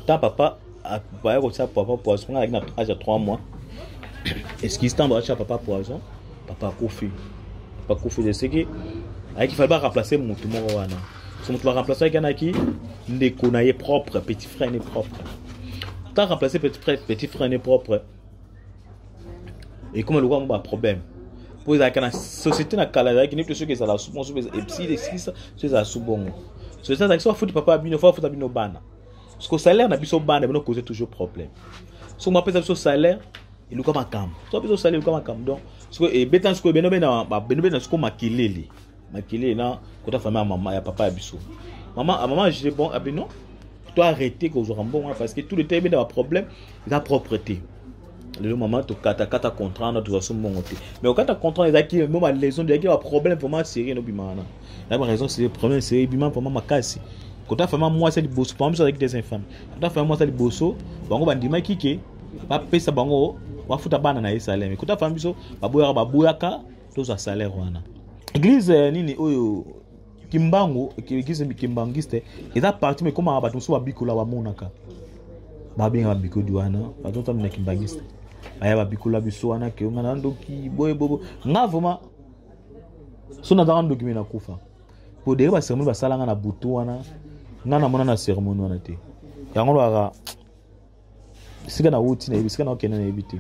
ta papa baya kotia papa poison nga alaki na age ya 3 mois excuse ntango batia papa poison papa akufi papa akufi eseki ayaki fali baremplace motu moko wana so motu baremplaceaki anaki ndeko na ye propre petit frère ne propre ta remplace petit frère ne propre ekoma lokola yango baproblème mpo ezalaka na société na kala ezalaki neti soki ezala su bongo soki esikisa soki ezala su bongo société azalaki so afuti papa ya bino fo afuta bino bana parceke salaire na biso bana bino cause toujours problème soki mwapesa biso salaire eluka makambo soki biso salaire eluka makambo donc soki ebetana sikoyo bino bena sikoyo makelele makele na kota fami ya mama ya papa ya biso mama ah, mama je bon abi ah, non to arrete kozwaka mbongo wana parce que tout le temps ebenda baproblème eza propre te lelo mama tokatakata contrat wana tozwa so mbongo te mais okata contrat ezalaki mo balaison ezalaki baproblème vraiment serie nobima wana na baraison serie problème serie ebima vraiment makasi kota fami ya mwasi ya liboso pama biso azalaki des infame kota fami ya mwasi ya liboso bango bandimaki ke bapesa bango bafuta bana na ye saleme kota fami biso baboyaka baboyaka tozwa salaire wana eglise eh, nini oyo kimbangu eglise kimbangiste eza parti ma ekomaka bato mosusu babikola bamonaka babengaka babikodi wana bato otambi na kimbangiste baya babikola biso wana ke nga na ndoki boye bobo nga vraimen so nazaka ndoki me nakufa po dere baseremoni basala nga na butu wana nga namona na seremoni wana te yango lwaka esika nauti nayebi esika naokende nayebi te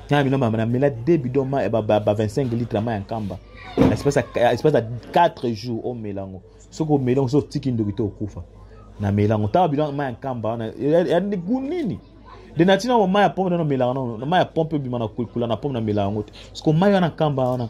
na bino namela de bidon ma ba 25 litre ma ya nkamba espace ya 4 jours omela yango soki omeli yango soki otiki ndoki te okufa namela yango ntango bidon ma ya nkamba wana ya gu nini de nati nango mai ya pompe nano melaka nano mai ya pompe ebima na kula na pompe namela yango te soki mai wana nkamba wana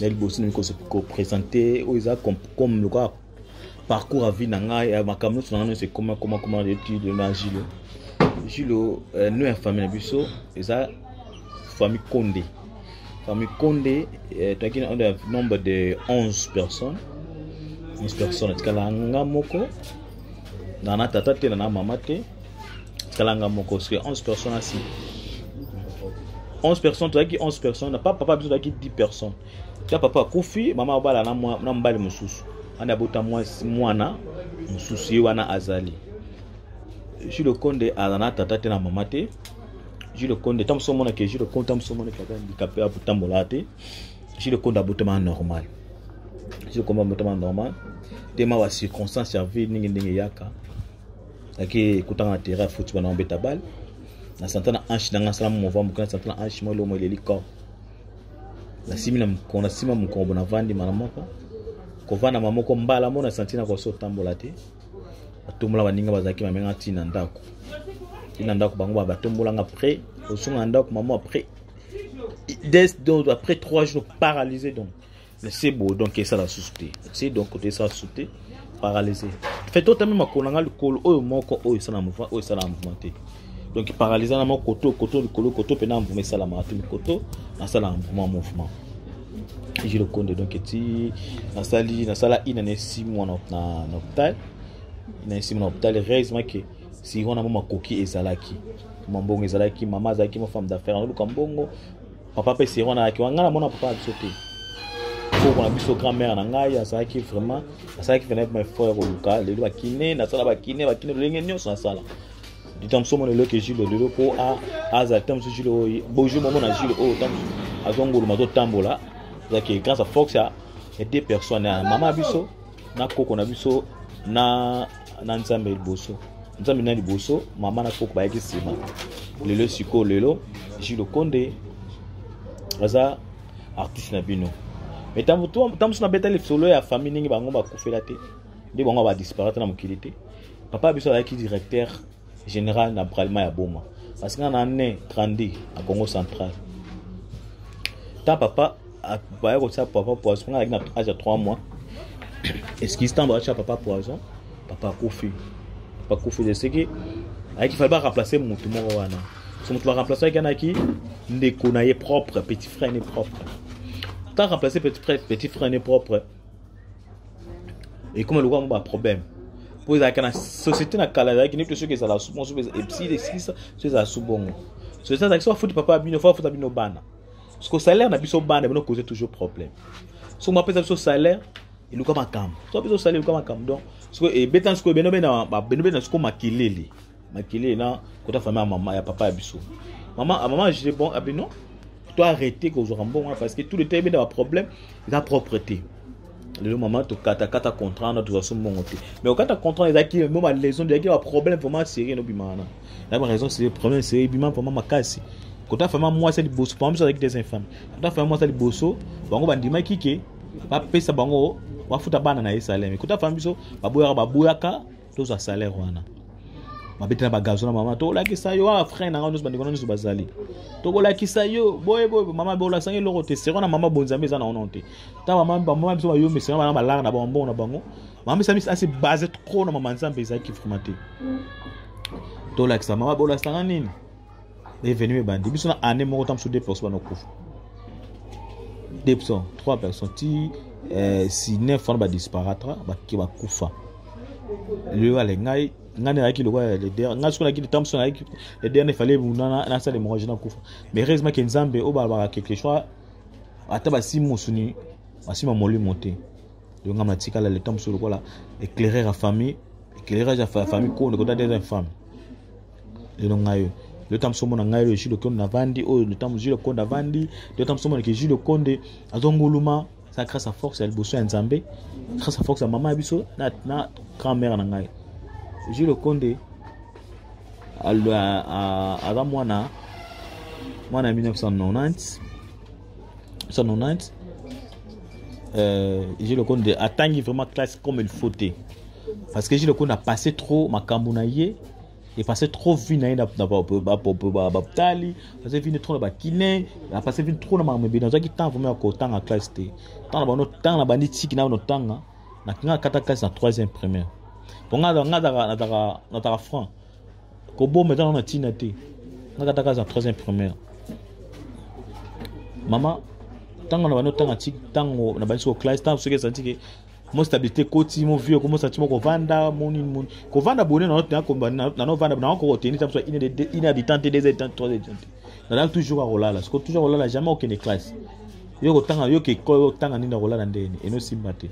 ya liboso nalingi kopresente oyo eza comme lokola parcours ya vie na ngai ya makambo nyonso na ngai nyonso ekoma koma koma etude na julo julo euh, no ya famille na biso eza famille konde famille konde euh, toyaki na ondo ya nombre de 11 personnes 11 personnes etikala nga moko na na tata te na na mama te kalanga moko parce que 11 personnes asi 11 personnes tozalaki 11 personnes pa papa biso tozalaki 10 personnes ta papa akufi mama abala na mobali mosusu wana abota mwana mosusu ye wana azali jules konde aza na tata te na mama te jules konde ntango mosusu omonake jules konde ntango mosusu omonake aza handikape akotambola te jules konde abotama normal jules konde abotama normal te ma bacirconstance ya vie ndenge ndenge eyaka ake kotanga na terrain ya foot bana obeta bale na santa na hanche nanga asala mova moke na santa na hanche mwa elomo eleli corps nasimi na mokolo nasima mokongo navandi mala moko kovanda ma moko mbala mo na santi na koso otambola te batombola baninga bazalaki bamenga ntina na ndako ntina ndako bango batombolanga après osunga na ndako mamo après des donc après trois jours paralysé donc c'est beau donc esa la souté c'est donc côté ça souté paralysé fait toi tamema kolanga likolo oyo moko oyo ça na mouvement oyo ça na mouvement te donc paralysé na moko koto koto likolo koto pe na mouvement esa la matu koto na ça na mouvement mouvement je le compte donc ti na sali na sala ina ne 6 mois na na hôpital ina ne 6 mois na hôpital heureusement que si on a mama koki ezalaki mambongo ezalaki mama azalaki ma femme d'affaires na luka mbongo papa mpe sero wana ayaki wana ngai namona papa na biso te koko na biso grand mère na ngai azalaki vraiment asalaki venait ma frère koluka lelo bakine nasala bakine bakine lolenge nyonso nasala ntango mosusu omona lelo ke jule lelo mpo azala ntango mosusu jule oyo bojour momona jule oyo ntango mosusu azongoluma azotambola azalaki grâce à force ya deux personnes ya mama biso na koko na biso na na nzambe liboso nzambe na liboso mama na koko bayaki nsima lelo sikoyo lelo jilo konde aza artiste na bino me ntango mosusu nabeta lisolo ya famille ndenge bango bakufela te nde bango badisparate na mokili te papa biso azalaki directeur General na bralima ya boma parce que na ne grandi na Congo central ta papa baya kotia papa poison nga na age ya 3 mois excuse ntango batia papa poison papa akufi papa akufi de seke ayaki fali baremplace motu moko wana so motu baremplace ayaki anaki ndeko na ye propre petit frère ne propre ta remplace petit frère petit frère ne propre ekoma lokola yango baproblème mpo ezalaka na société na kala ezalaki neti soki ezala su bongo soki esilisa soki ezala su bongo société azalaki soki afuti papa bino fo afuta bino bana parceke salaire na biso bana bino cause toujours problème soki mapesa biso salaire eluka makambo soki biso salaire eluka makambo donc soki ebetana sikoyo bino bena bino bena sikoyo makelele makele na kota famille ya mama ya papa ya biso mama ah, mama je bon abi ah, non to arrêter kozwaka mbongo wana parce que tout le temps ebenda baproblème eza propre te lelo mama tokatakata contrat wana tozwa so mbongo te mais okata contrat ezalaki mo balaison ezalaki baproblème vraiment serie nobima wana ya baraison serie problème serie ebima vraiment makasi kota fama mwasi ya liboso pama biso azalaki des infame kota fama mwasi ya liboso bango bandimaki ke bapesa bango bafuta bana na ye saleme kota fama biso baboyaka baboyaka tozwa salaire wana mabete na bagazo na mama tokolakisa yo awa ah, frein na ngai nyonso bandeko na nyonso bazali tokolakisa yo boye boye mama bolasangi eloko te seko na mama bonzambe eza na ono te ta mama bamama biso bayo mesena bana balaka na bango mbongo na bango mama biso amisi asi base trop na mama nzambe ezalaki vraimen te tolakisa mama bolasanga nini revenu ebandi biso na année moko ntango mosusu 2 personnes banakufa 2 personnes 3 personnes ti eh, si 9 wana badisparatra bake bakufa lelo ale ngai ngai nayaki lokola leder ngai soki nayaki ntango mosusu nayaki leder na efale nasala hemorragie nakufa mais heureusement ke nzambe oyo balobaka quelque chose ata basimi mosuni basima molimo te yo ngai matikala le temps mosusu lokola éclaireur ya famille éclairage ya famille kondekota des infammes lelo ngai oyo lelo ntango mosusu omona ngai oyo jules okonde navandi oyo ntango mosusu jules okonde avandi lelo ntango mosusu omonake jules okonde azonguluma eza grâce à force ya liboso ya nzambe grâce à force ya mama ya biso na, na grand mère na ngai jules okonde aza mwana mwana ya 1990 1990 euh, jules okonde atangi vraiment classe comme il faut te parce que jules okonde a passé trop makambo na ye epasse trop vie na ye na bapitali aze vini trop na bakine apasse vini trop na makambo ebele nazwaki temps vraimen ya kotanga classe te ntango na bano ntango na bandi tiki na bano tanga nakingaka kata classe na troisième primaire po nga nataka franc koboma eza na ntina te nga kata classe na troisième primaire mama ntango na bandi otanga tiki ntango na bandi soko classe ntango soki ezali tiki mo stabilité ekoti mo vie okomo santi mo kovanda moni moni kovanda bone na note nakomba na novanda na oko koteni tapo ine de ine habitant te deux habitant trois habitant na la toujours akolala siko toujours akolala jamais okende classe yo kotanga yo ke ko yo tanga nini akolala ndeni et no simba te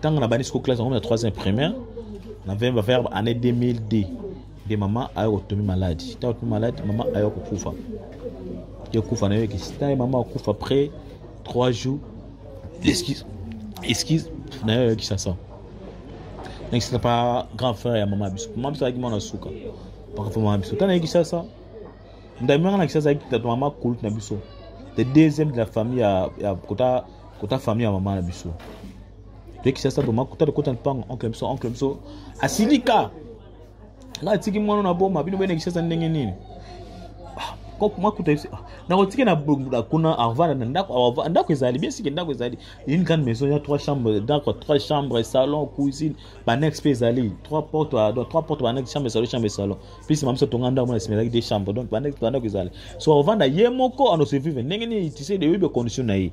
tanga na bani siko classe ngomna troisième primaire na vemba verbe année 2002 de maman ayo kotomi malade ta kotomi malade maman ayo kokufa yo kufa na yo ke sita maman akufa après 3 jours excuse excuse na yo ya kisasa na kisasa pa grand frère ya mama biso mama biso ayaki mwana suka pakafo mama biso tana ye kisasa ndamimaka na kisasa ayaki tato mama kulut na biso le deuxième de la famille ya, ya kota kota famille ya mama na biso toye kisasa toma kota tokota mpango oncle biso oncle biso asilika nga atiki mwana na boma bino bene kishasa ndenge nini makuta nakotike na kuna avanda na ndako ndako ezali bien sike ndako ezali une grande maison ya trois chambre ndako trois chambre salon cuisine banex mpe ezali trois porte donc trois porte banex chambre salon chambre salon plus ma biso tonga ndako mona esimelaki deux chambre donc banex bandako ezali so avanda ye moko anosevive ndenge nini tisede oyebi condition na ye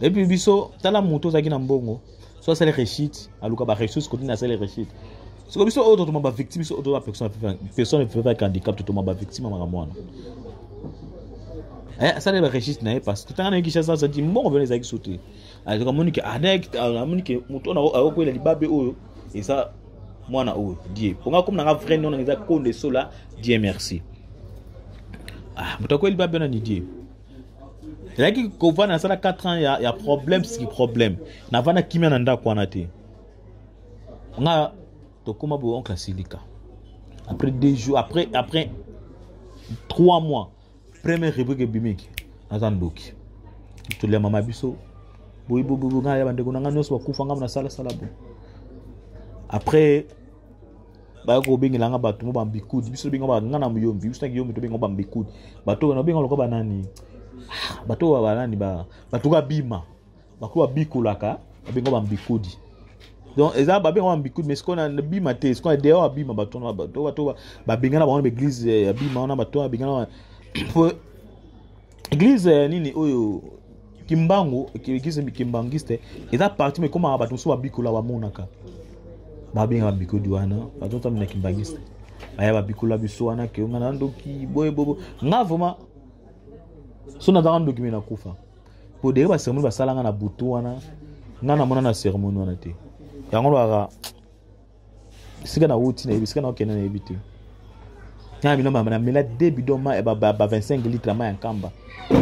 epuis biso tala moto ozalaki na mbongo so asali réussite aluka baressource kotini asali réussite siko biso oyo totoma bavictime biso oyo toza personne vivant avec handicap totoma bavictime ya makambo wana eh, asali baregistre na ye parce que ntanga na ye kinshasa azati mbongo mpena ezalaki so te azoka amoni ke amoni ke moto ona akokwela libabe oyo eza mwana oyo die mpo nga komi nanga vrai nona eza konde sola die merci ah, moto akweli libabe ona ni die nazalaki kovanda nasala 4 ans ya, ya problème siki problème navanda kimia na ndako wana te nga tokóma boye oncle asilika après deux jours après après trois mois première rubrique ebimiki naza ndoki tolia mama biso boyibobobo ngai ya bandeko na ngai nyonso bakufa ngai nasalasala bo après baya kobengela nga bato mo bambikudi biso tobenga nga na moyombi biso na kiyombi tobenga bambikudi bato oyo nabenga lokola banani ah, bato oyo banani bato oyo babima bato oyo babikolaka babenga bambikudi donc eza babenga bambikudi mais sikoyo nabima te sikoyo dehors abima bato wana bato babengana bango na baeglise ya bima wana bato wana babengana po eglise eh, nini oyo kimbangu eglise kimbanguiste eza parti mekomaka bato mosusu babikola bamonaka babengaka bikodi wana bato otamina kimbanguiste baya babikola biso wana ke nga na ndoki boye bobo nga vraimen so nazaka ndoki me nakufa po dere baseremoni basala nga na butu wana nga namona na seremoni wana te yango lwaka esika nauti nayebi esika naokende nayebi te na bino namela de bidon ba 25 litre mai ya nkamba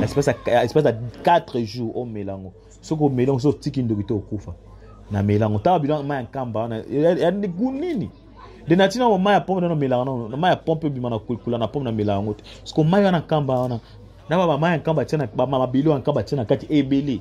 espace ya 4 jours omela yango soki omeli yango soki otiki ndoki te okufa namela yango ntango bidon mai ya nkamba wana ya gu nini de nati nango mai ya pompe nano melaka nano mai ya pompe ebima na kula na pompe namela yango te soko mai wana nkamba wana na bamai ya nkamba tia na bamabilo ya nkamba tia na kati ebele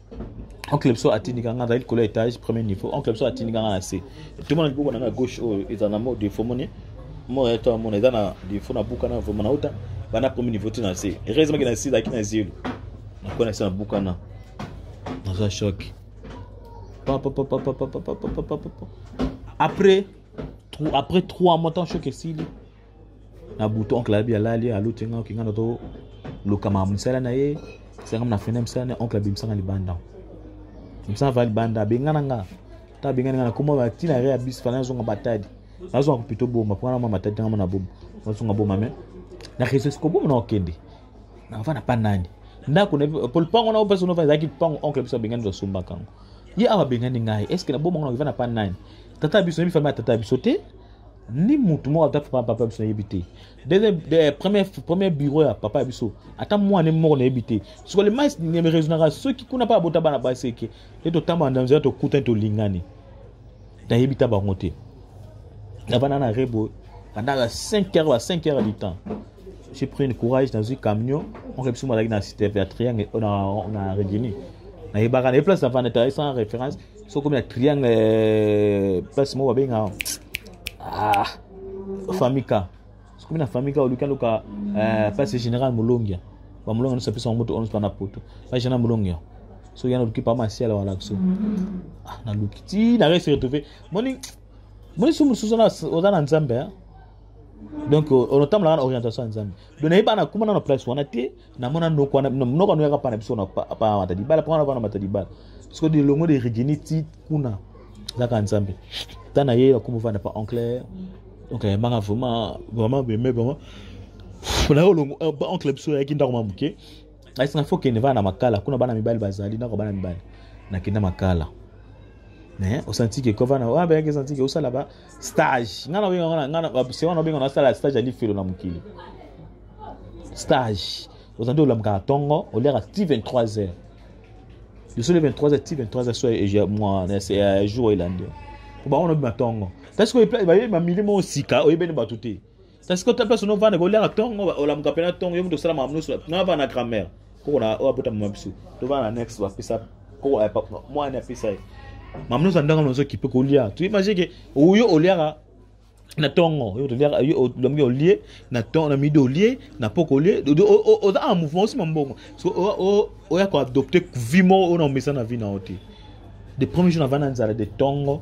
oncle biso atindika nga azali likolo ya étage premier niveau oncle biso atindika nga na se tomona liboko na nga gauche oyo oh, ezala na mo defo moni mo ya to mona eza na defo na buka na vraiment na uta bana premier niveau ti na se heureusement ke na se ezalaki na zelo nakoya na se na buka na naza choc après après trois mois ntango choc esili na butu oncle abi alali aluti nga okinga na to lokama mosala na ye sanga na fene mosala na oncle abimisanga libanda mosala va libanda abengana nga ta abengani nga na koma ba tina re abis fana azonga batadi azonga pito boma mpo wana mama tadi ngama na boma azonga boma me na reseau siko boma na okende na va na pa nani ndako na po lupango na opesa nova ezalaki lupango oncle biso abengani tosombaka yango ye awa abengani ngai estce na boma ngo na va na pa nani tata biso nayebi fami ya tata biso te ni motu moko ata papa papa biso nayebi te deuxième de, premier premier bureau ya papa ya biso ata mwana moko nayebi te siko le mais ne me raisonnaka soki kuna pa abota bana basi eke te totambana na nzela tokutani tolingani nayebi ta bango te navanda na rebo pendant la 5 heures à 5 heures du temps j'ai pris une courage nazwi camion onke biso malaki na cité ya triangle na regini nayebaka na ye place navanda tala sans référence soki okomi na triangle eh, place moko babenga ah, famika soki okomi na famika oluki aluka eh, place général molongia bamolongia nyonso apesa bango moto oyo na poto place général molongia so yana oluki pa masiala wana biso ah, naluki ti na reste retrouve moni moni so mosusu oza na nzambe eh? donc onotambolaka na orientation ya nzambe donc nayebana kumana na place wana te na mona noko wana noko wana yaka pana biso na pa mata libala pa wana pana mata libala siko de longo de regini ti kuna zaka nzambe tana ye akoma vanda pa oncle donc ayembanga vraiment vraiment beme vraiment na yo longo ba euh, oncle biso yaki ndako ma moke ayisanga fo kende vana na makala kuna bana mibali bazali ndako bana mibali nakenda makala mais osantiki kovana wabe yaki esantiki osala ba stage nga nabengasewana obenga nasala stage ya lifelo na mokili stage oza nde olamukaka ntongo oliaka ti 23 heures lisolo 23 heures ti 23 heures so ya jour elandi po bango nobima ntongo parce que bayebi mamili moko sika oyebeni bato te kasi kota place no vanda koliaka tongo olamuka mpe na tongo yo moto osala makambo nyonso na vanda grammaire koko na oyo abota mama biso tovanda na next bapesa koko eh, mwana apesa ye makambo nyonso andanga nazo kipe kolia tu imagine ke oyo oliaka na tongo yo toliaka olombi olie na tongo na midi olie na poko olie oza en mouvement osima mbongo oya koadopte vie moko oyo na omesa na vie na yo te de premier jour na vanda nzala de tongo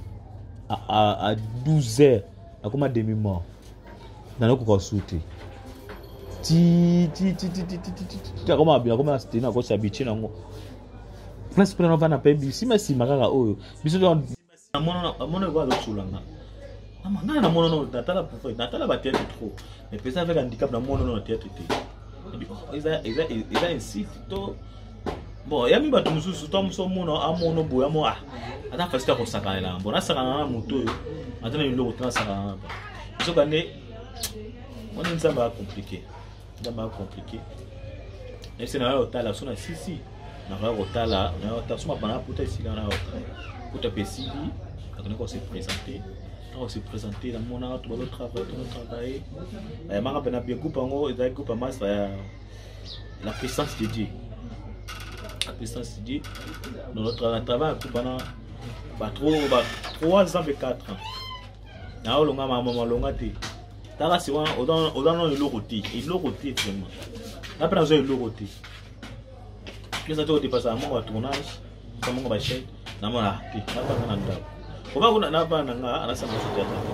à, à, à 12 heures nakoma demi mort nanakoka su te akoma na steni nakosi abitye nango place mpe nano vana mpe bisima nsima kaka oyo biso amona ekoa azosulanga mama ngai namona no natala prophète natala batheatre trop mais mpenza avec handicap namona no na theatre te eza insulte to bon yami bato mosusu to moso mono amono boya mo ah ata fasite akosakanela mpo nasakana na moto oyo ata na biloko te nasakana na ba soka nde wana nzambe acomplike nzambe acomplike nayebisi nayo otala so na sisi nakoya kotala nayo otala so mabana puta esika nayo otala puta mpe esili akende kose présente ntango se présente namona bato bazotravaille tonotravaille bayamaka mpe na bie groupe yango ezali groupe ya masa ya la puissance de dieu la puissance de dieu dans notre na travail akoki bana ba 3 ans mpe 4 ans na olonga mama malonga te tala si wana oza nano eloko te eloko te vraiment na mpe naza eloko te pesa te kodepasa moko ya tournage sa moko bachai namona te nabanga na ndako oba kuna na bana nga anasanga soki ya ndako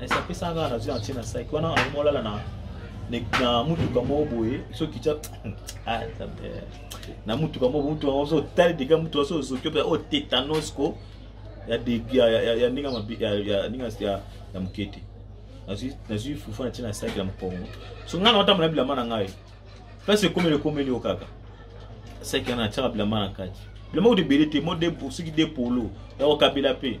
esa apesa nga nazwi na ntie na saki wana akomolala na na mutuka moko boye soki tya ah, na mutuka moko mutuka ozo otali dega mutuka so ozoki mpe o tetanos ko ya ndenge ya moke te nazwi fufu na ntina na saki ya mokongo so ngai na otambola bilamba na ngai place ekomeli ekomeli yo kaka saki wana natyaka bilamba na kati bilamba kutu ebele te mo soki de polo ya kokabela mpe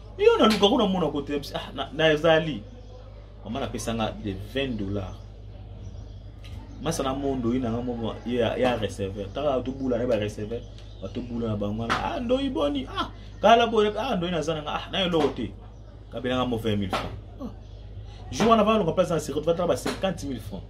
yo naluka kuna mona kote ah, nazali mama napesa nga de 20 dollars masa na mondo ye nanga moko ya receveur taka tobula na ye bareceveur batobula na bango wana ah ndoi boni ah kala boye ah ndoi naza nanga ah nayo eloko te kabelanga mo 20 000 francs ah. jour wana valonga place na sirete vatala ba 50 000 francs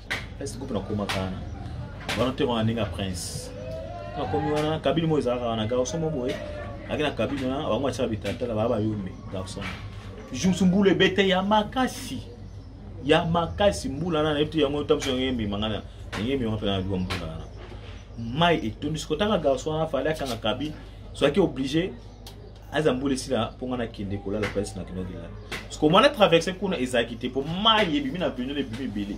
est groupe nakoma kana wana te wana ndenge ya prince nakomi wana kabili moko ezalaka wana garçon moko boye ake na kabili wana bango atyaka bitatala baa bayombe garçon jour mbula ebete ya makasi ya makasi mbula wana nayebi te yango otambusa yango emema ngai ndenge emema mpe nayebika mbula wana mai etondisi kotanga garçon wana fali akanga kabili soki oblige aza mbula esila mpo ngai nakende kolala place na kino kelala siko mwana traverse kuna ezalaki te mpo mai ebimi na bino ebimi ebele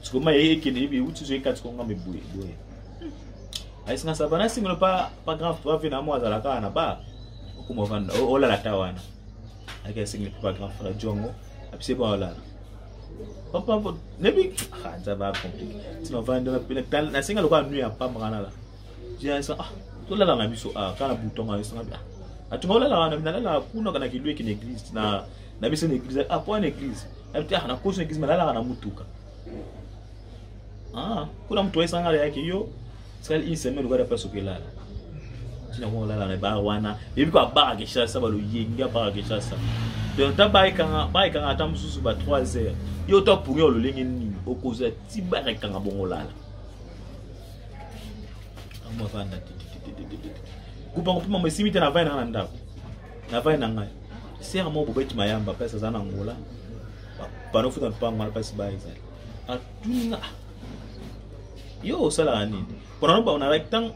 siko mai eye ekende ebi euti zo ekati ko ngambe boye boye ayisi nga saba nasingelo pa pa grand frère ve na mwa azala kaka na ba okoma vanda olala ta wana ayaki asingeli pa grand frère jongo apise ba olala papa nebi nzaba compliqué tima vanda nasenga lokola nui ya pamba kanala Vincent, ah, tolala na biso, ah, kala butonga, yosanga, ah, atunga olala wana, nalala kuna kana kilue kina église, na, na biso na église, ah, kwa na église, abiti, ah, na kosi na église, malala na mutuka. Ah, kuna mtu waisanga la yake yo, sikali hii semaine ukada pesa ukilala. China kwa lala na bar wana, yebi kwa bar kisha saba lo yengi ya bar kisha saba. Donc ta bai kanga, bai kanga ata mususu ba 3 heures. Yo to pungi ololenge nini, okoza ti bar kanga bongo lala. amavanda kupa kopima mo esimi te na vai na nga na ndako na vai na ngai sere moko bobeti mayamba place aza na ngola bana ofuta mpango wana place ba ezali atuna ah, yo osalaka nini mpona no banalaki ntango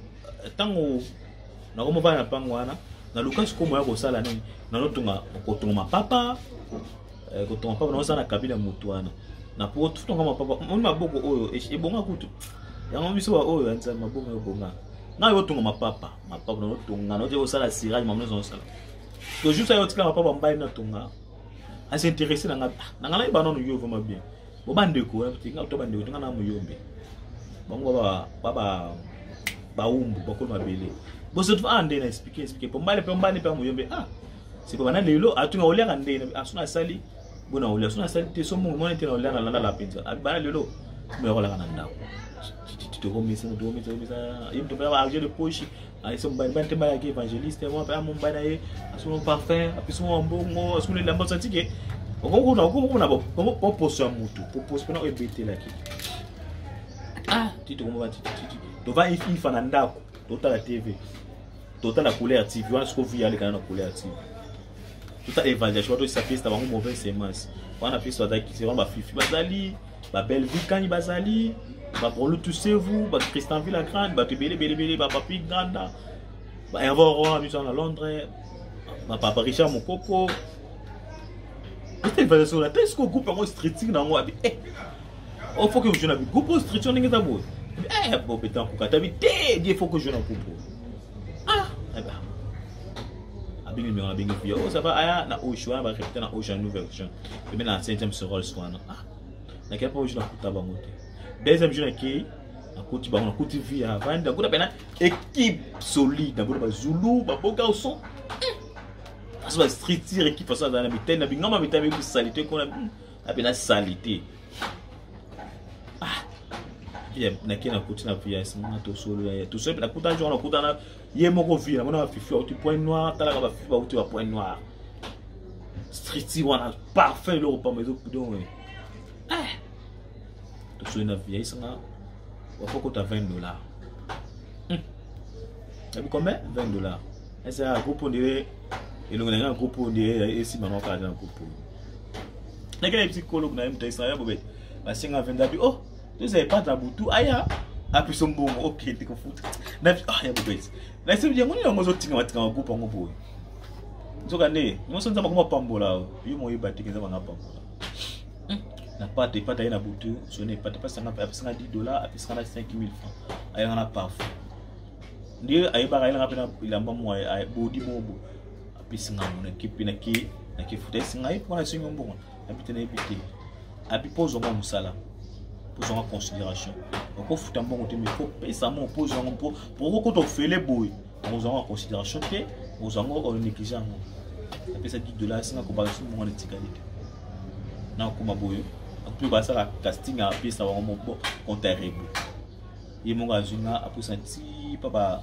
ntango nakomi bana na mpango wana naluka sikoyo moya kosala nini nanotonga kotonga mapapa eh, kotonga papa naoza na kabila motu wana na po tutonga mapapa oni maboko oyo ebonga kutu yango biso baoyo ya nzambe maboko ebonga ngai otonga mapapa mapapa naotonga naotia kosala sirage mamo nyonso nasala tojour sa yo otika mapapa mbai natonga asinteresse na ngai ah, na ngai nayeba nano yo vraimen bien bo bandeko eh, tinga to bandeko tinga na moyombe bango baba baumbu bakolo mabele bosotu ah nde na explike explike po mbale pe mbale pe moyombe ah siko bana lelo atunga oliaka nde aso nasali bo na olia so nasali te so mongo mwana te na olia na lala mpenza bana lelo moya kolaka na ndako tokomisa tokomisa komisa ye moto mpe argent de poche ayese mobali bani te bayaki évangéliste mwa mpe amobali na ye asolo parfum apesi mwa mbongo asolo elamba osatike okomona poposo ya motu poposo mpena oyo ebetelaki ah ti tokomona tova ifa na ndako totala tv totala couleur tv wana siko vi alekana na couleur tv tota évaluation bato esa pesa bango mauvaise semence wana pesa bazali kisi wana bafifi bazali babellevue kani bazali babrolo tusevu bacristan villa grande bato ebele belebele bapapi granda baherve roi biso na londres bapapa richard mokoko ete évaluation na te siko groupe yango streeting na yango abi eh, Oh, faut que je joue na Bigupo, structure ndenge eza boye. Eh, Bob Betancourt, kata bi te, die faut que je joue na Bigupo. Ah, eh ben. Abingi numéro abingi puis oh ça va aya na Osho, ba répéter na Osho nouvelle version. Et bien na 5e sur Rolls wana. Ah. Na kaya pa Osho na kuta bango te. Deuxième jour na ki na kuti bango na kuti vie ya vanda kuna pena équipe solide na kuna ba Zulu, ba Boga au son. Parce que la structure équipe façon na bitena bingama bitena bi salite kuna. ape na salite ah, nake nakuti na vias mona tosolola ye tosolola nakuta njongo nakutana ye moko vi namona bafifi bauti point noir talaka bafifi bauti ba point noir striti wana parfum eloko pamba ezokudongo eh, tosoli na vi ayisanga wakokota 20 dollars hmm. yabi combien 20 dollars esa groupe ondire elongo na ngai na groupe ondire esimama kaka na groupe oyo ndenge nayebisi kolo na ye moto ayisana ya bobe nasenga venza bi oh toza epata na butu aya apiso mbongo okende kofuta na ah ya bobe nayebi yango nini yango ozotinga matinga magroupe yango boye nzoka nde nyonso nzambe akoma pambola yo moyeba te nzambe anga pambola hmm. na pata epata ye na butu soni epata apesanga 10 dollar apesanga na 5000 franc ayanga na parfum nde ayebaka ayelanga mpe na elamba mwa bodi mobo pesi nga mona kipi na ki na ki futa esi ngai pona sinyo mbongo abi te na yebi te abi pozo nga musala pozo nga considération oko futa mbongo te mais faut pesa mo pozo nga po poko ko to fele boy pozo nga considération te pozo nga o négliger ngo na pesa 10 dollars singa ko ba su mbongo na tikali te na ko ma boyo mpe basala casting apesa bango moko konta rebo ye moko azwi nga apesa ti pa ba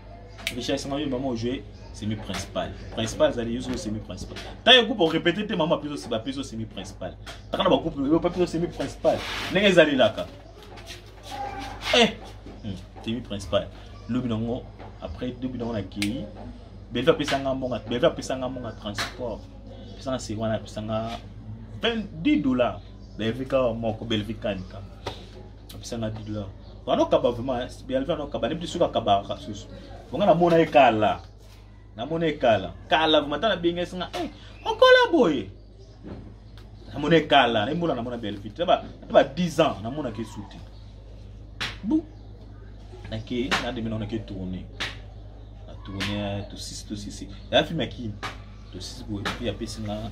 richesse mayo mama ojoue semi principal principal azali yo soki semi principal ntango egroupe orepete te mama apeso bapeso semi principal taka na bagroupe oyo bapeso semi principal ndenge ezalelaka eh hmm, semi principal lobi nango après lobi nango nakei belve apesanga mbonga belve apesanga mbonga transport apesanga se wana apesanga 10 dollars belve kaka moko belve kanika apesa nga 10 dollars bana okaba vraiment bialve ana okaba nebi suka kabaka susu bonga namona ye kala namona ye kala kala vraiment ata nabengesi nga eh, okola boye namona ye kala nayebi mbona namona bialve te ba 10 ans namonaka esu te bu nake nademi naona ke tourne na tourne tosisi tosisi ya filme ya kini tosisi boye apesi nga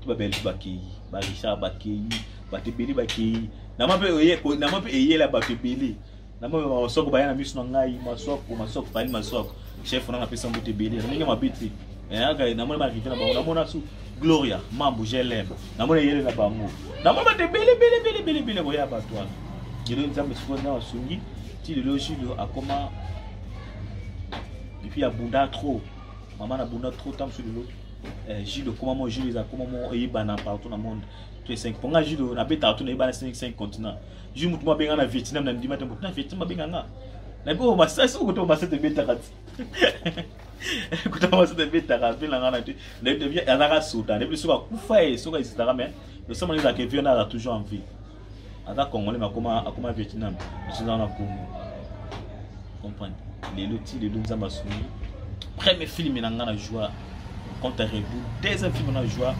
ti babelge bakei barisa bakei bato ebele bakei nama mpe eyela bato ebele nama mpe masoko baya na miso na ngai masoko masoko fali masoko chef nanga apesa mboto ebele ndenge mabe te namoni baarrive na bango namona su gloria mambo glm namoni eyele na bango namoni bato ebele ebele ebele ebele ebele koya bato wana lelo nzambe sikoyo nzambe asungi ti lelo julo akoma epuis abunda trop mama nabunda trop ntango mosusu lelo eh, judo koma moko judo eza koma moko eyebana partout na monde to esengi mpo ngai judo nabetaka to nayebana 5 continent ju motu mo abenga na vietnam na ndima te motu na vietnam abenga nga nayebi oyo masasi oyo koto masete ebetaka ti kuta masete ebetaka apela nga na te azalaka soda nayebi soki akufa ye soki ezitaka mais losamana ezalaka evion azala toujours en vie aza congolais akoma akoma vietnam biso eza na congo comprendre lelo ti lelo nzambe asungi premier film na ngai na joua contre reboul deuxième film na joua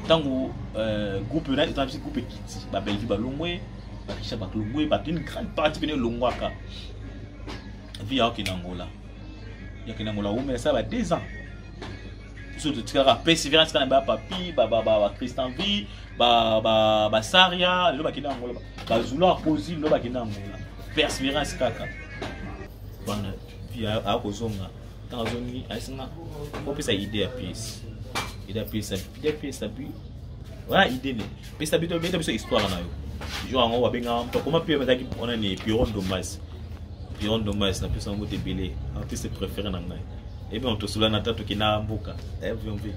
ntango euh, groupe na eza biso groupe ekiti babelvi balongwe bakisha baklongwe bato une grande partie pene elongwaka vi yakokende angola yakende angola omela sala ba deux ans biso totikaka perseverance kaka na ba papi ba ba ba Christian vie ba ba ba Saria lelo bakenda Angola ba Zulu akozi lelo bakenda Angola perseverance kaka bana puis akozonga ntango azongi asinga opesa idée ya pièce idée ya pièce idée ya pièce puis wana idée ne pesa bito beta biso histoire na yo jour yango babengaka moto akoma mpe bazalaki mpona ne piron domas piron domas napesa yango te ebele apesa préféré na ngai ebi on tosula na tatu kina mboka eh vion vi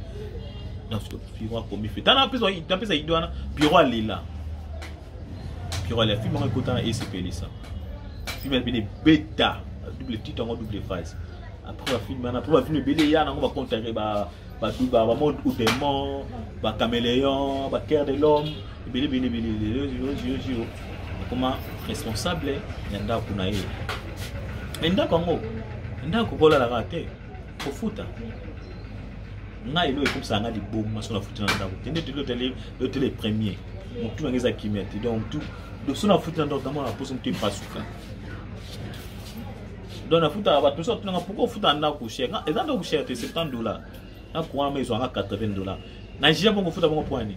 na fito piro akomi fito na pesa na pesa ido wana piro alela piro alela film yango ekota na esepelisa film ya bene beta double titre yango double phase après ba film wana après ba film ebele ya nango ba contacte ba ba ba monde ou démon ba caméléon ba cœur de l'homme ebele bele bele lelo yoziyoziyo akoma responsable ya ndako na ye me ndako yango ndako kolalaka te kofuta ngai elo ekobisaka ngai libomu maso nafuti na ndako te ndeti lotele premier motu nange eza kimia te donc tu doso nafuti na ndako namona poso motu epasuka donc nafutaka bato nyonso atunanga pourkoi ofuta na ndako cher eza ndako cher te 70 dollar na courant ma ezwanga 80 dollar na jia bongo ofuta bongo poani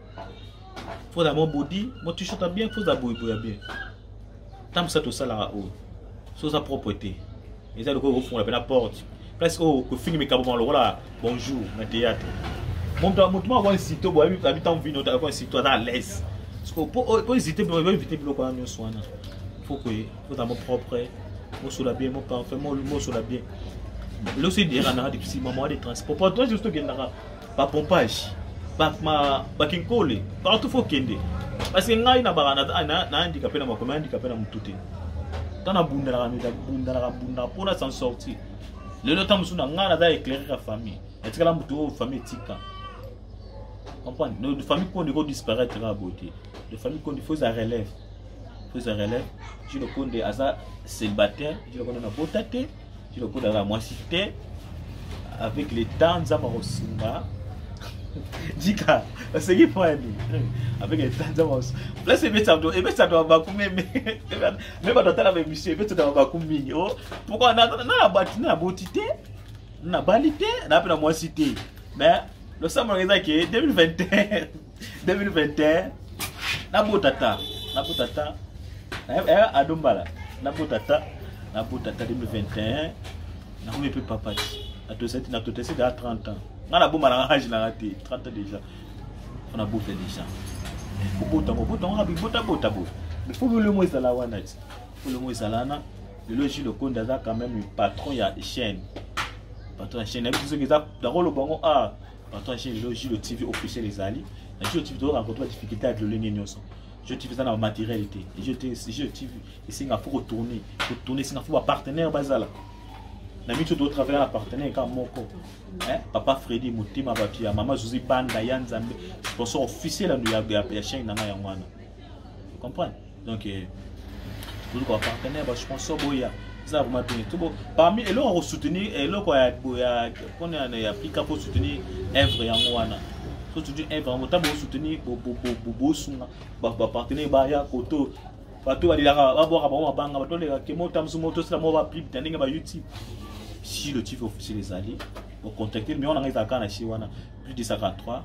faut na mo body mo t-shirt bien faut za boye boye bien tant ça tout ça là oh so sa propreté et ça le ko fond la porte place oh ko fini mes kaboma lokola bonjour na théâtre mon temps mon temps wa site bo abi abi tant vino ta ko site à l'aise parce que pour pour hésiter pour éviter biloko na nyoso wana faut que faut ta mo propre mo sur la bien mo parfait mo mo sur la bien losi dira na depuis maman des transports pour toi juste que na ba pompage ba ma ba kinkole partout faut kende parce que ngai na baka na na na andika pe na mako na andika pe na mutu te tant na bunda na mita bunda na bunda pour na s'en sortir lelo tant musu na ngai na da éclairer la famille etikala mutu oyo famille tika comprendre nos de famille qu'on doit disparaître à beauté de famille qu'on faut ça relève faut ça relève je le compte à ça célibataire je le compte à beauté kino kuna na mwasi te avec le temps nzambe akosunga jika oseki pwani avec le temps nzambe akosunga place ebetisa bato ebetisa bato babaku meme me bato atala baemission ebetisa bato babaku mingi o oh, pourkoi nabati na naboti te nabali te na mpe na mwasi te mais losambolaka eza ke 2021 2021 nabota ta nabota ta eh, eh, ado mbala nabota ta nabota ta 2021 nakomi mpe papa ti natotesi da 30 ans nga naboma na age nanga te 30 ans déjà mpo nabota déjà kobota ngo bota ngo kabi botabota bo fo bilomo ezala wana ti bilomo ezala wana lelo ji lokondi aza quand même patron ya chaîne patron ya chaîne nayebi soki eza nakoloba ngo a ah, Patron chez Lelo Gilo TV officiel ezali. Na Gilo TV toyoka kotoka difficulté ya lolenge nyonso. Gilo TV eza na matériel te. Gilo TV Gilo TV esenga faut ko tourner, ko tourner esenga faut ba partenaire bazala. Na mitu to travailler na partenaire kama moko. Eh, papa Freddy Motema batu ya mama José Banda ya Nzambe sponsor officiel ya ya chaîne na ngai ya mwana. Comprendre? donc eh, tozali koapartenir basponsor boya eza vraimen bien tobo parmi eloko ya kosoutenir eh, eloko ya mpona ya plika mpo soutenir evre yango wana so soutenir evre yango ntango bosoutenir bosunga bapartenaire baya koto bato balelaka babwaka bango mabanga bato balelaka kemo tamosu mo tosala moko baplibe na ndenge ba youtube si le chief officiel ezali ocontacte numero na ngai ezalaka na si wana plus 243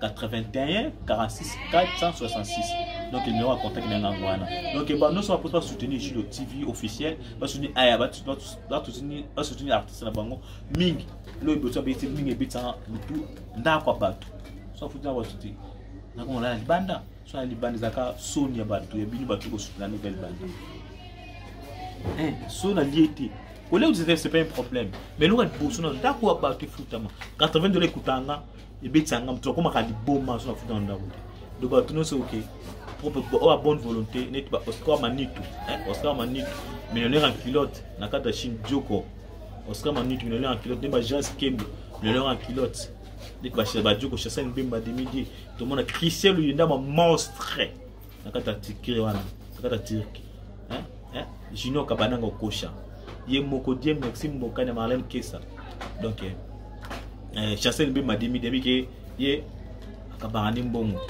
81 46 466 donc numéro ya contact na ngai wana donc ba nyonso baposi basoutenir julo tv officiel basoutenir aya basoutenir artiste na bango mingi loyo eboso abeti mingi ebetisaka mitu ndako ya bato so afuti na bato te nakomona na libanda so na libanda ezalaka soni ya bato ya bino bato kosoutenir nde libanda eh, so nalie te kolia ozete c'est pas un problème mais loka liboso na ndako ya bato efutama 80 dola ekutanga ebetisa nga moto akomaka liboma so nafuta na ndako te donc bato nyonso oke oyo a bonne volonté neti ba oscar manitu oscar manitu millionnaire en culotte na kati ya chine dioko oscar manitu millionnaire en culotte nde ba jean skembe millionnaire en culotte neti badioko chasani mbemba demidie tomona christian luyendama monstre na kati ya tikire wana na kati ya turki hein? hein? junior kabananga okosha ye moko die maxime mbokani ya marlene kesa donc eh, eh chancel mbe madimi debi ke ye akabaka ni mbongo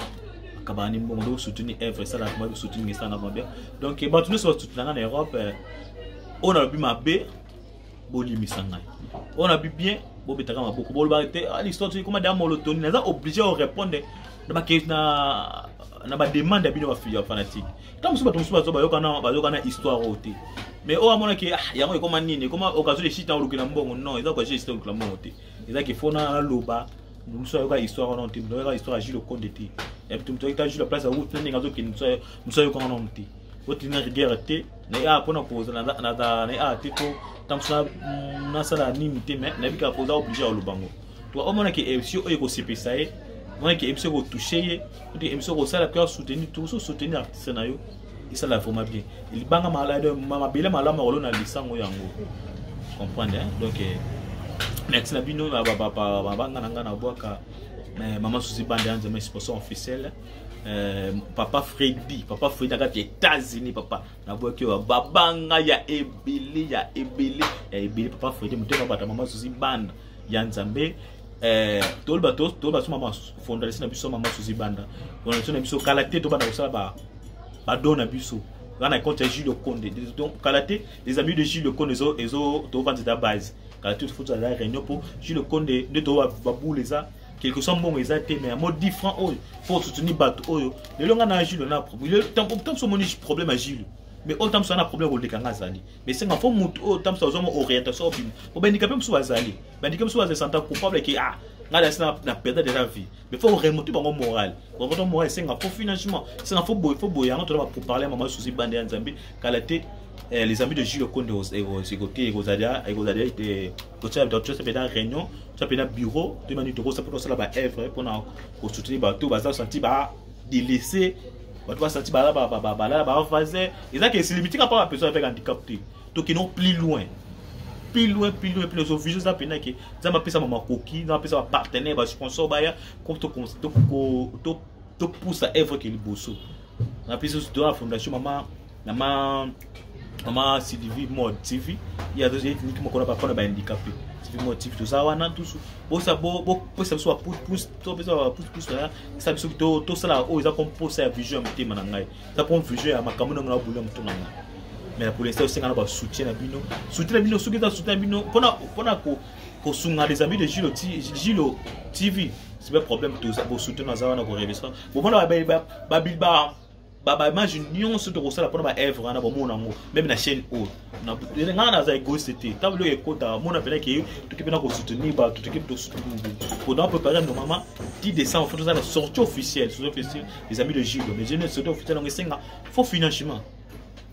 akabaka ni mbongo donc soutenir evre esalaka mabe soutenir esalaka mabe donc eh, bato nyonso basoutenaka na europe eh, oyo nalobi mabe bolimisa ngai oyo nalobi bien bobetaka maboko bolobaka te ah, l'histoire toyekoma da molotoni naza oblige orépondre na ba na na ba demande ya bino ba fille fanatique tant mosusu bato mosusu bazo bayokana bayokana histoire oyo te mais oyo amona ke ah, yango ekoma nini ekoma occasion de chita olukela mbongo non eza occasion de chita olukela mbongo te eza ke fona aloba mosusu ayoka histoire wana te mosusu ayoka histoire ya jules okonde te ya bitu mosusu ayokita jules place ya route na ndenge azokende mosusu ayokaka nano te otinga rigueur te na ye awa mpona kozala na ye awa te to ntango mosusu nasala nini te mais nayebikaka koza oblige ya oloba yango to omona ke emission oyo ekosepesa ye omona ke emission ekotouche ye to emission ekosala mpe asoutenir tokoso soutenir artiste na yo esala vraiment bien libanga mabele malamu ya kolona lisango yango comprendre hein? donc eh, merci na bino babanga na ngai na bwaka eh, mama susi bande ya nzema sponsor officiel eh, papa fredi papa fredi na kati ya états-unis papa nabwaki oyo babanga ya ebele ya ebele ya ebele papa fredi motema bata mama susi bande ya nzambe eh, toloba toloba so mama fondalisi na biso mama suzi banda fondalisi na biso kala te tobanda kosala badon na biso wana ekonte ya jules okonde donc kala te les amis de jules okonde ezo tovanza ta base kala te tofuta la réunion mpo jules okonde nde to babule eza quelque soit mbongo eza te mais yango 10 francs oyo mpo soutenir bato oyo lelo ngai na jules na problème ntango moso omoni problème ya jules mais oyo ntango moso na problème koleka ngai azali esenga fo motu oyo ntango mosusu azwama orientation obima po bandika mpe mosusu bazali bandika mosusu bazali santa coupable ke ah ngai nasi na perdre déjà vie mais fo remonte bango moral remonte moral esenga fo financement esenga fo boye fo boye yango tona baparle mama susi bande ya nzambe kala te eh, les amis de Gilles Konde ekoki ekozala ekozala ete totia mpenza réunion totia mpenza bureau toyeba nini tokosala mpo tosala baevre mpona kosoutenir bato baza santi ba de laisser bato basati balala bavase eza ke esili bitika mpa bapeso avec handicap te tokino plus loin plus loin plus loin plus loin vision eza mpena ke nzambe apesama makoki nzambe apesa bapartenaire basponsor baya topusa evre ke liboso na biso toa fondation mama na ma na ma Sylvie Mode TV ya zo yeki niki mokona ba pona ba handicapé Sylvie Mode TV toza wana tusu bosa bo bo pesa biso ba pouce pouce to pesa ba pouce pouce ya sa biso to to sala o eza comme posa ya vision ya motema na ngai eza comme vision ya makambo na ngai na boulot motema na ngai mais na polesa osenga na ba soutien na bino soutien na bino soki eza soutien na bino pona pona ko kosunga les amis de Gilo Gilo TV c'est pas problème toza bo soutien na za wana ko revisa bo pona ba ba ba ba ba image nyonso tokosala mpona ba œuvre wana bomona yango meme na chaîne oyo ngai naza egoiste te ntango biloko ekota mona mpena ke toki mpena kosoutenir bato toki mpona préparer no mama ti décembre fo tozala sortie officielle sortie officielle les amis de judo mais jene sortie officielle yango esenga faux financement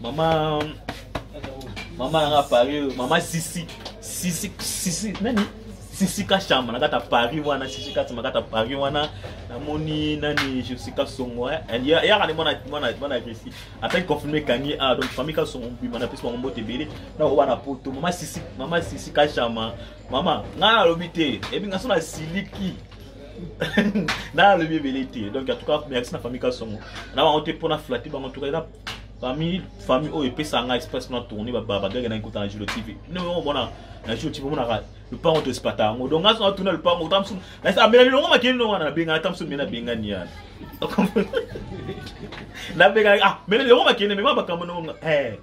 Maman maman nanga Paris, maman Sisi, Sisi Sisi nani? Sisi Kashama na kata Paris wana, Sisi Kashama kata Paris wana. Namoni nani Jessica Songo, eh. Elle ya ya mwana mwana mwana agressif. Après confirmer Kanye ah donc famille Kasongo bima na pesi mwa mbote bele. Na wana poto, maman Sisi, maman Sisi Kashama. Maman, nga nalobi te, ebi nga sona siliki. nalobi ebele te donc en tout cas merci na famille kasongo na bango te mpo na flate bango en tout cas eza famille famille oyo epesa nga express na tourne babagage na ekota na julo tv omona na julo tv omonaka lupango to espata yango donc ngaso natuna lupango ota mosusu nasi amelani longo makeli longo wana nabengana ata mosusu mena bengani yana nabengana ah mena longo makeli mema bakambo nongo eh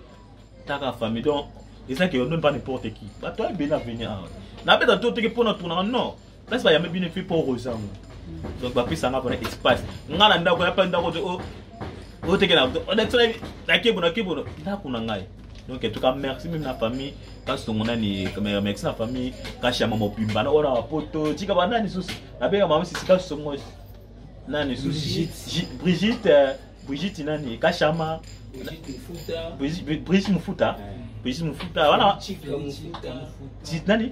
taka famille donc eza ke yo noni pas n'importe qui bato aye bena venir awa nabeta to teke mpo na tournaka non place bayambi bino epuis mpo oza yango donc bapesa nga mpona espace nga na ndako yapa ndako te otekela nakebuno nakebuno ndako na ngai donc en tout cas merci meme na famille kasi tongo nani merci na famille kasi ya mama opimba na oyo na bapoto tika banani susu nabenga mama sisi kasi songosi nani susi brigitte euh, brigitte nani kashama brigitte mufuta brigitte mufuta wana nani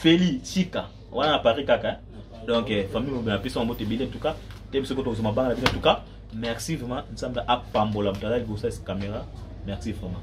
feli chika wana na paris kaka donc euh, famille mobile na biso mbote ebele en tout cas te biso koto kozoma banga na bino en tout cas merci vraiment nzambe apambola moto azali kosala caméra merci vraiment